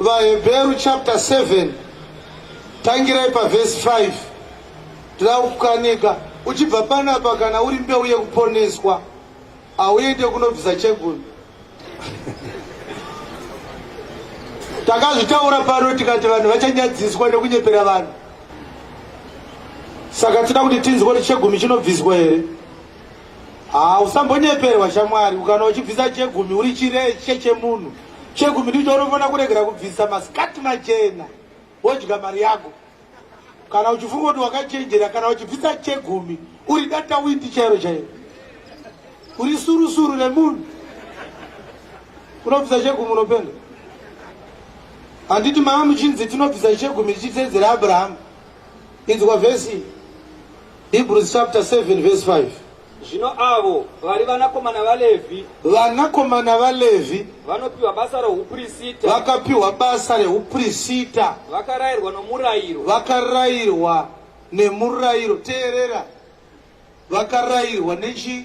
VaHebheru chapter 7 tangirai pavhesi 5 tira kukanika uchibva panapa kana uri mbeu yekuponeswa hauende kunobvisa chegumi takazvitaura pano tikati vanhu vachanyadziswa nekunyepera vanhu saka tinoda kuti tinzwe kuti chegumi chinobviswa here Haa usambonyeperwa shamwari ukana uchibvisa chegumi uri chireshe chemunhu chegumi ndicho unofanira kuregera kubvisa masikati machena wodya mari yako kana uchifunga kuti wakachenjera kana uchibvisa chegumi uri data windi chairo chairo uri surusuru remunhu unobvisa chegumi unopenda handiti mama muchinzi tinobvisa chegumi tichiteedzera abrahamu inzwa vhesi Hebrews chapter 7 verse 5. Zvino avo vari vanakomana vaLevhi, Vanakomana vaLevhi vanopiwa basa rouprisita, vakapiwa basa reuprisita, vakarayirwa nomurayiro, vakarayirwa nemurayiro. Teerera, vakarayirwa nechi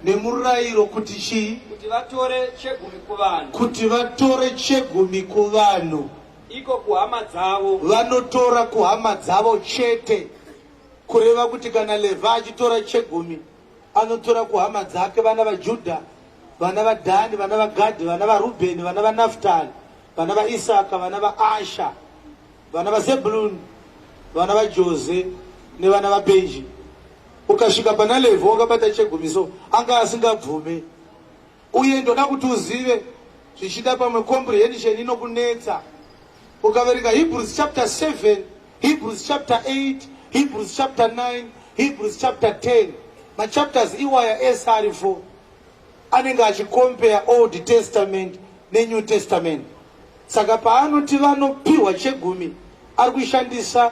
nemurayiro kuti chii? kuti vatore chegumi kuvanhu. Kuti vatore chegumi kuvanhu. iko kuhama dzavo vanotora kuhama dzavo chete kureva kuti kana levha achitora chegumi anotora kuhama dzake vana vajudha vana vadhani vana vagadhi vana varubheni vana vanaftali vana vaisaka vana vaasha vana vazebuluni vana vajose nevana vabenji ukasvika pana levha wakabata chegumi so anga asingabvume Uye ndoda kuti uzive zvichida pamwe comprehension inokunetsa ukaverenga Hebrews chapter 7, Hebrews chapter 8, Hebrews chapter 9, Hebrews chapter 10. Machapters iwaya ese ari 4 anenge achikompare Old Testament neNew Testament. Saka paanoti vanopiwa chegumi ari kushandisa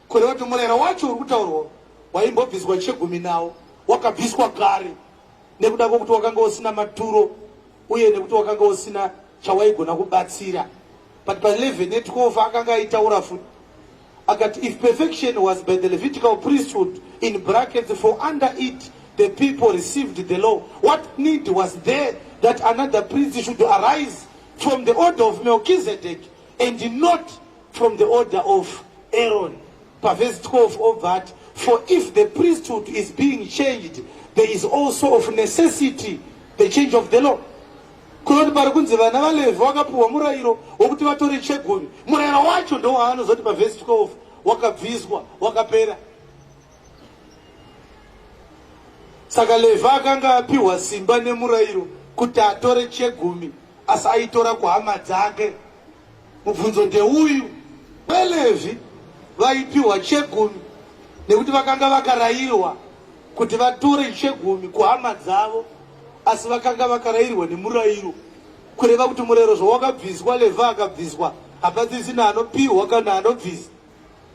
Kureva kuti murayiro wacho uri kutaurwa waimbobviswa chegumi nawo wakabviswa kare nekuda kwekuti wakanga usina maturo uye nekuti wakanga usina chawaigona kubatsira but pa 11 ne 12 akanga aitaura futi akati if perfection was by the levitical priesthood in brackets for under it the people received the law what need was there that another priest should arise from the order of melchizedek and not from the order of Aaron pavhesi 12 obva ati for if the priesthood is being changed there is also of necessity the change of the law kunoti pari kunzi vana valevhi vakapiwa murayiro wekuti vatore chegumi murayiro wacho ndowaanozoti pavhesi 12 wakabviswa wakapera saka levhi akanga apiwa simba nemurayiro kuti atore chegumi asi aitora kuhama dzake Mubvunzo ndeuyu, VaLevhi vaipiwa chegumi nekuti vakanga vakarayirwa kuti vatore chegumi kuhama dzavo, asi vakanga vakarayirwa nemurayiro, kureva kuti murayiro zvawakabviswa, Levhi akabviswa, hapasisina anopiwa kana anobvisa,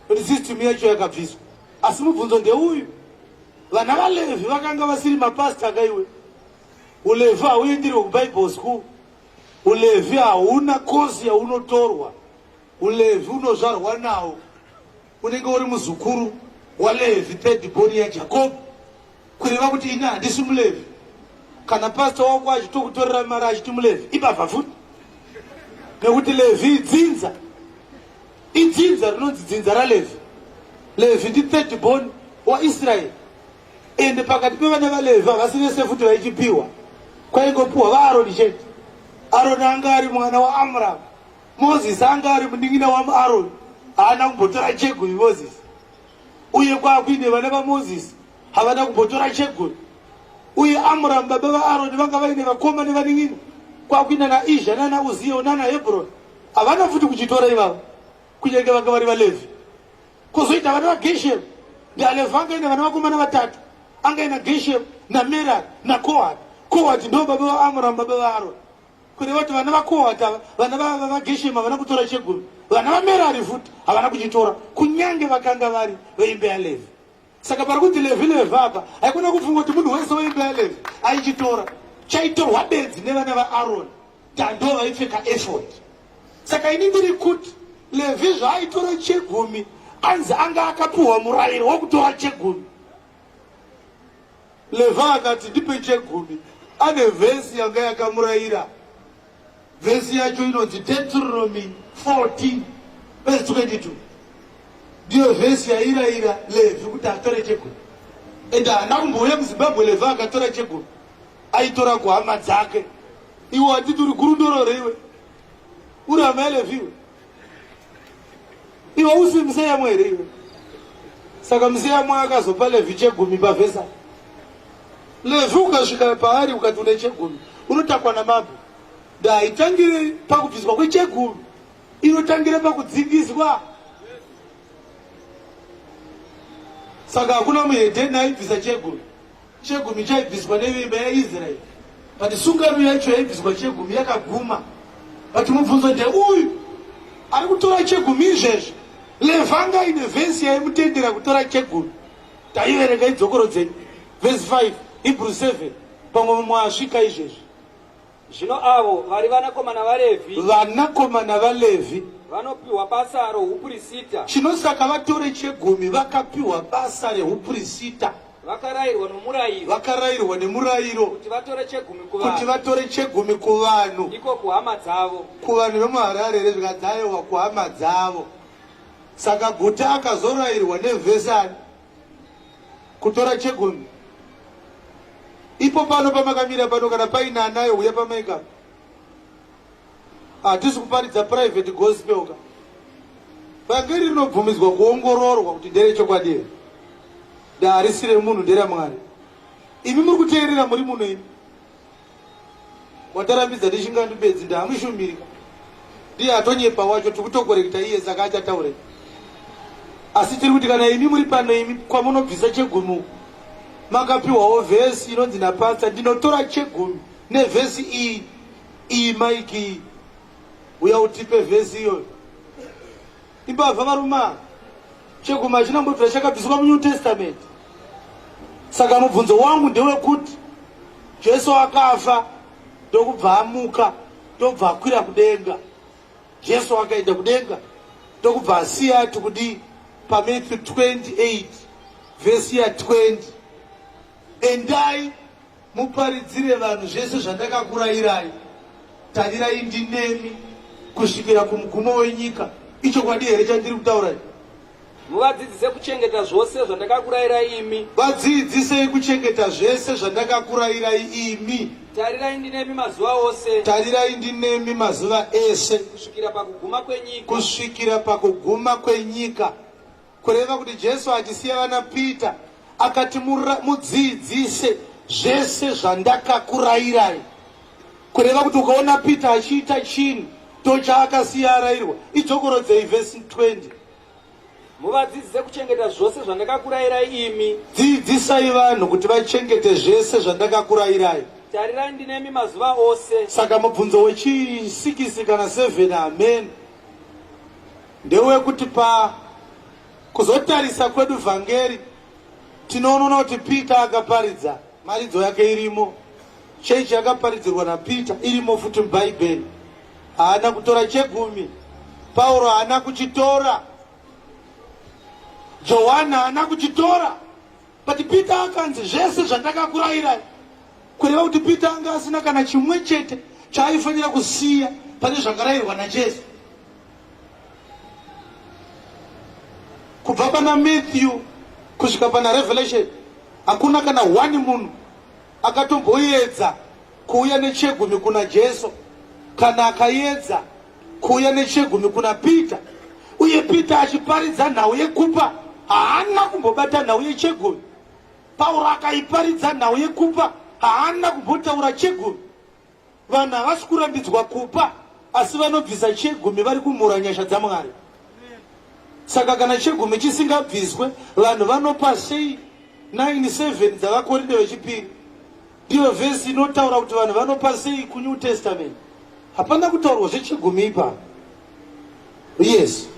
kuti system yacho yakabviswa. Asi mubvunzo ndeuyu, vana vaLevhi vakanga vasiri mapasita kaiwe, uLevhi hauendirwe kuBible school. Ulevhi hauna kozi yaunotorwa, ulevhi unozvarwa nawo. Unenge uri muzukuru waLevhi, third born yaJakobo, kureva kuti ini handisi muLevhi. Kana pasta wako achitokutorera mari achiti muLevhi, ibavha futi, nekuti Levhi idzinza, idzinza rinonzi dzinza raLevhi. Levhi ndi third born waIsraeri. ende pakati pevana vaLevhi havasi vese futi vaichipiwa kwaingopiwa vaAroni chete Aroni anga ari mwana waAmramu Moses anga ari munin'ina waAroni haana kumbotora chegumi Moses uye kwakuine vana vaMoses havana kumbotora chegumi uye Amramu baba vaAroni vanga vaine vakoma nevanin'ina kwakuina naIzha nana Uziyo nana Hebroni havana futi kuchitora ivavo kunyange vanga vari vaLevhi kozoita vana vageshem ndialefu anga ine vana vakomana vatatu anga ina geshem namerar nakohat kohat ndo baba vaamuramu baba vaaroni kureva kuti vana vakohat ava vana vageshem havana kutora chegumi vana vamerari futi havana kuchitora kunyange vakanga vari veimbe yalevi saka pari kuti levhi levhi apa haikona kufunga kuti munhu wese weimba yalevhi aichitora chaitorwa benzi nevana vaaroni tando vaipfeka efod saka ini ndiri kuti levhi zvaaitora chegumi anzi anga akapiwa murayiro wokutora chegumi levhi akati ndipe chegumi ane vhesi yanga yakamurayira Vhesi yacho inonzi Deuteronomy 14 vhesi 22 ndiyo vhesi yairayira Levhi kuti atore chegumi and haana kumbouya muzimbabwe Levhi akatora chegumi aitora kuhama dzake iwo atiti uri gurundorore iwe uri hama yaLevhi iwe iwe usi museyamo here iwe saka museyamo akazopa levhi chegumi pavhesa levhi ukasvika paari ukati une chegumi unotakwa namabho da haitangire pakubviswa kwechegumi inotangira pakudzingiswa saka hakuna muhedheni aibvisa chegumi Chegumi chaibviswa nevimba yaIsraeri, but sungano yacho yaibviswa chegumi yakaguma. But mubvunzo ndeuyu, ari kutora chegumi izvezvi, levanga ine vhesi yaimutendera kutora chegumi. Taiverenga idzokoro dzenyu, vhesi 5, Hebrew 7, pamwe mumwe asvika izvezvi. Zvino avo vari vanakomana vaLevhi. Vanakomana vaLevhi. Vanopiwa basa rohupurisita. Chino saka vatore chegumi vakapiwa basa rehupurisita. Vakarairwa nomurayiro. Vakarairwa nemurayiro. Kuti vatore chegumi kuvanhu. Kuti vatore chegumi kuvanhu. Ndiko kuhama dzavo. Kuvanhu vemuHarare here zvikadzayowa kuhama dzavo. Saka guta akazorairwa nevhesani. kutora chegon ipo pano pamakamira pano kana paina anayo huya pamaika hatisi kuparidza private gospel ka vhangeri rinobvumidzwa kuongororwa kuti ndere chokwadi here ndaharisire munhu ndera mwari imi muri kuteerera muri muno imi watarambidza ndichinga ndibedzi ndaamushumirika ndiye atonyepa wacho tikutokorekta iye saka achataure asi tiri kuti kana imi muri pano imi kwamunobvisa chegumi makapiwawo vhesi inonzi napasta ndinotora chegumi nevhesi iyi iyi maiki iyi uya utipe vhesi iyoyo Imbavha varume ava. Chegumi hachina kumbobvira chakabviswa muNew Testament. Saka mubvunzo wangu ndewekuti Jesu akafa ndokubva amuka ndobva akwira kudenga. Jesu akaenda kudenga ndokubva asiya ati kudii paMatthew 28 vhesi ya 20 endai Muparidzire vanhu zvese zvandakakurayirai, tarirai ndinemi kusvikira kumugumo wenyika. Ichokwadi here chandiri kutaura ichi? Muvadzidzise kuchengeta zvose zvandakakurayirai imi. Vadzidzisei kuchengeta zvese zvandakakurayirai imi. Tarirai ndinemi mazuva ose. Tarirai ndinemi mazuva ese. Kusvikira pakuguma kwenyika. Kusvikira pakuguma kwenyika. Kureva kuti Jesu achisiya vana Peter akati mudziidzise zvese zvandakakurayirai. Kureva kuti ukaona Peter achiita chinhu tochaakasiya arayirwa idzokorodzei vhesi 20 muvadzidzise kuchengeta zvose zvandakakurayirai imi. Dziidzisai vanhu kuti vachengete zvese zvandakakurayirai. Tarirai ndinemi mazuva ose. Saka mubvunzo wechisikisi kana sevheni hameni. ndewekuti pa kuzotarisa kwedu vhangeri tinoonona kuti Peter akaparidza mharidzo yake irimo, chechi yakaparidzirwa naPeter irimo futi muBhaibheri. Haana kutora chegumi, Pauro haana kuchitora, Johani haana kuchitora. But Peter akanzi zvese zvandakakurayirai kureva kuti Peter anga asina kana chimwe chete chaaifanira kusiya pane zvakarayirwa naJesu. Kubva pana Matthew kusvika pana Revelation hakuna kana one munhu akatomboyedza kuuya nechegumi kuna Jesu kana akayedza Kuuya nechegumi kuna Peter uye Peter achiparidza nhau yekupa haana kumbobata nhau yechegumi. Pauro akaiparidza nhau yekupa haana kumbotaura chegumi. Vanhu havasi kurambidzwa kupa asi vanobvisa chegumi vari kumhura nyasha dzaMwari. Saka kana chegumi chisingabviswe vanhu vanopa sei 97 dzavakorinde vechipiri Ndiyo vhesi inotaura kuti vanhu vanopa sei kunew testament. Hapana kutaurwa zvechigumi ipa. Yes.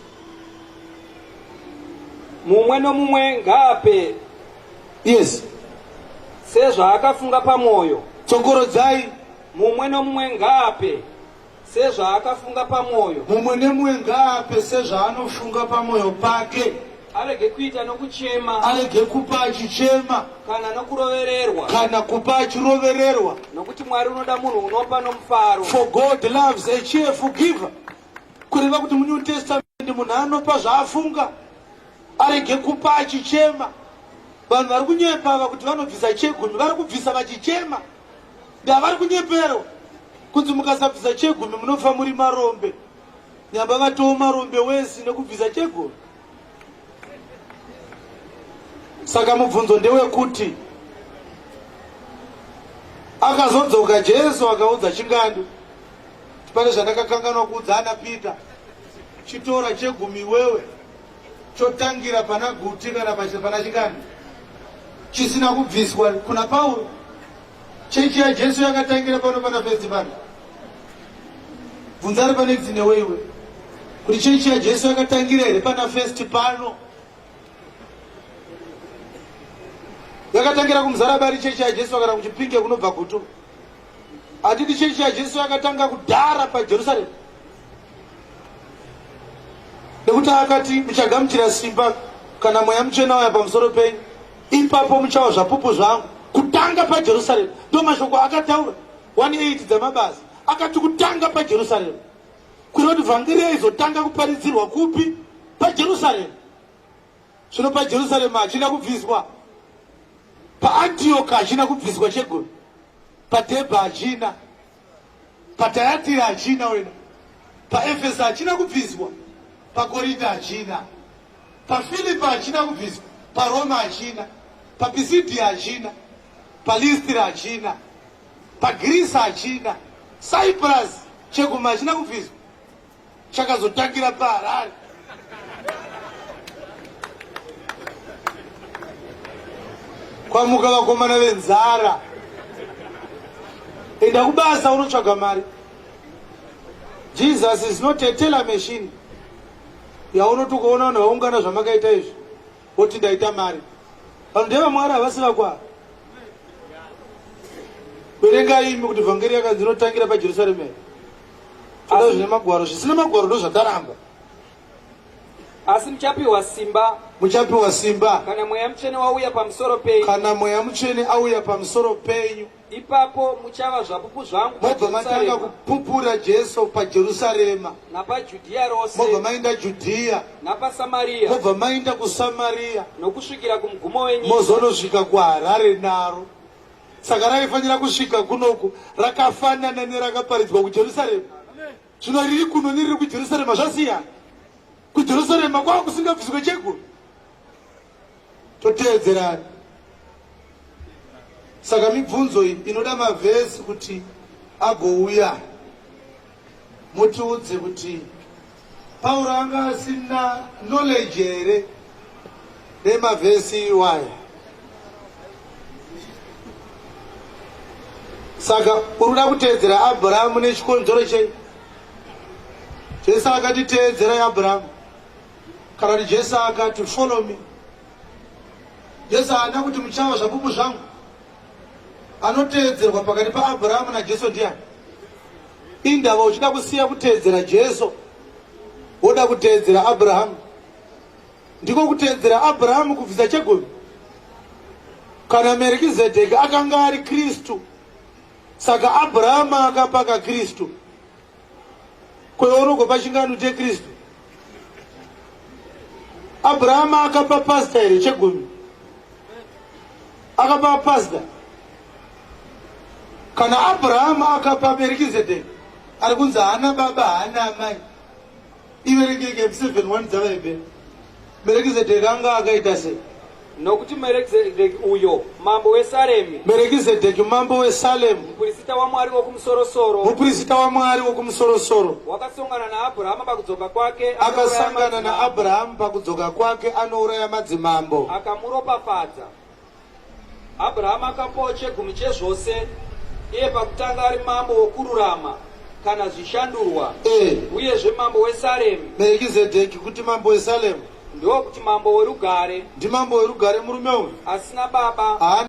Mumwe nomumwe ngaape. Yes. Sezvaakafunga pamwoyo. Tsokorodzai. Mumwe nomumwe ngaape. sezvaakafunga pamwoyo mumwe nemumwe ngaape sezvaanofunga pamwoyo pake arege kuita nokuchema arege kupa achichema kana nokurovererwa kana kupa achirovererwa nokuti mwari unoda munhu unopa nomufaro for god loves a cheerful giver kureva kuti munew testament munhu anopa zvaafunga arege kupa achichema vanhu vari kunyepa ava kuti vanobvisa chegumi vari kubvisa vachichema Ndavari kunyepero kunzi mukasabvisa chegumi munofa muri marombe. Nyamba vatowo marombe wesi nekubvisa chegumi. Saka mubvunzo ndewekuti akazodzoka Jesu akaudza chingandu pane zvandakakanganwa kuudza ana Peter chitora chegumi wewe chotangira pana guti kana pana chikani chisina kubviswa kuna pauro chechi yajesu yakatangira pano pana festi pano bvunza ari pane dzine weiwe kuti chechi yajesu yakatangira here pana festi pano yakatangira kumuzarabari chechi yajesu kana kuchipinge kunobva gutu hatidi chechi yajesu yakatanga kudhara pajerusalemu nekuti akati muchagamuchira simba kana mweya muchena uya pamusoro penyu ipapo muchawa zvapupu zvangu kutanga pajerusarema ndo mashoko akataura 18 dzamabasa akati kutanga pajerusarema kureva kuti vhangeri yaizotanga kuparidzirwa kupi pajerusarema zvino pajerusarema hachina kubviswa paantioka hachina kubviswa chegoni padhebha hachina Patayatira hachina wena, paEfesa hachina kubviswa, paKorinta hachina, paFilipa hachina kubviswa, paRoma hachina, paPisidia hachina, paListira hachina, paGirisi hachina, Cyprus cheguma hachina kubviswa. chakazotangira paharare kwamuka vakomana venzara enda kubasa unotsvaga mari jesus is not a teller machine yaunoti ukaona vanhu vaungana zvamakaita izvi woti ndaita mari vanhu ndevamwari havasi vakwaa verengai imi kuti vhangeri yakanzi inotangira pajerusalemera toda zvine magwaro zvisina magwaro ndozvataramba asi muchapiwa simba muchapiwa simba kana mweya mutsvene wauya pamusoro penyu kana mweya mutsvene auya pamusoro penyu ipapo muchava zvapupu zvangu mobva matanga kupupura jesu pajerusarema napajudhiya rose mobva mainda judhiya napasamariya mobva mainda kusamariya nokusvikira kumugumo wenyu mozonosvika kuharare naro saka raifanira kusvika kunoku rakafanana nerakaparidzwa kujerusarema zvino riri kuno neriri kujerusarema zvasiyana kujerusarema kwava kusingabviswe cheguru toteedzerani saka mibvunzo iyi inoda mavhesi kuti agouya Mutiudze kuti Pauro anga asina knowledge here nemavhesi iwaya? Saka uri kuda kuteedzera Abrahamu nechikonzero chei? Jesu akati teedzerai Abrahamu kana kuti Jesu akati follow me. Jesu haana kuti muchawa zvapupu zvangu anoteedzerwa pakati paAbraham naJesu ndiani? Indava uchida kusiya kuteedzera Jesu woda kuteedzera Abraham. Ndiko kuteedzera Abraham kubvisa chegumi. Kana Merikizedheki akanga ari Kristu, saka Abraham akapaka Kristu. kweorogo pachingano chekristu abrahama akapa pasta here chegumi akapa pasta kana abrahama akapa merikizedeki ari kunzi haana baba haana amai Iverekeke seven one dzavaive Merekizedheki anga akaita sei? Nokuti Merekizedheki uyo mambo weSaremi, Merekizedheki mambo weSalemu, muprista waMwari wokumusoro-soro, muprista waMwari wokumusoro-soro, wakasongana naAbhurahama pakudzoka kwake, anouraya akasangana madzimambo, naAbhurahamu pakudzoka kwake anouraya madzimambo. akamuropafadza. Abrahama akapawo chegumi chezvose, iye pakutanga ari mambo wokururama kana zvishandurwa, e. uyezve mambo weSalemu. Merikizedheki kuti mambo weSalemu. Ndokuti mambo werugare. Ndimambo werugare murume uyu. Asina baba. Haana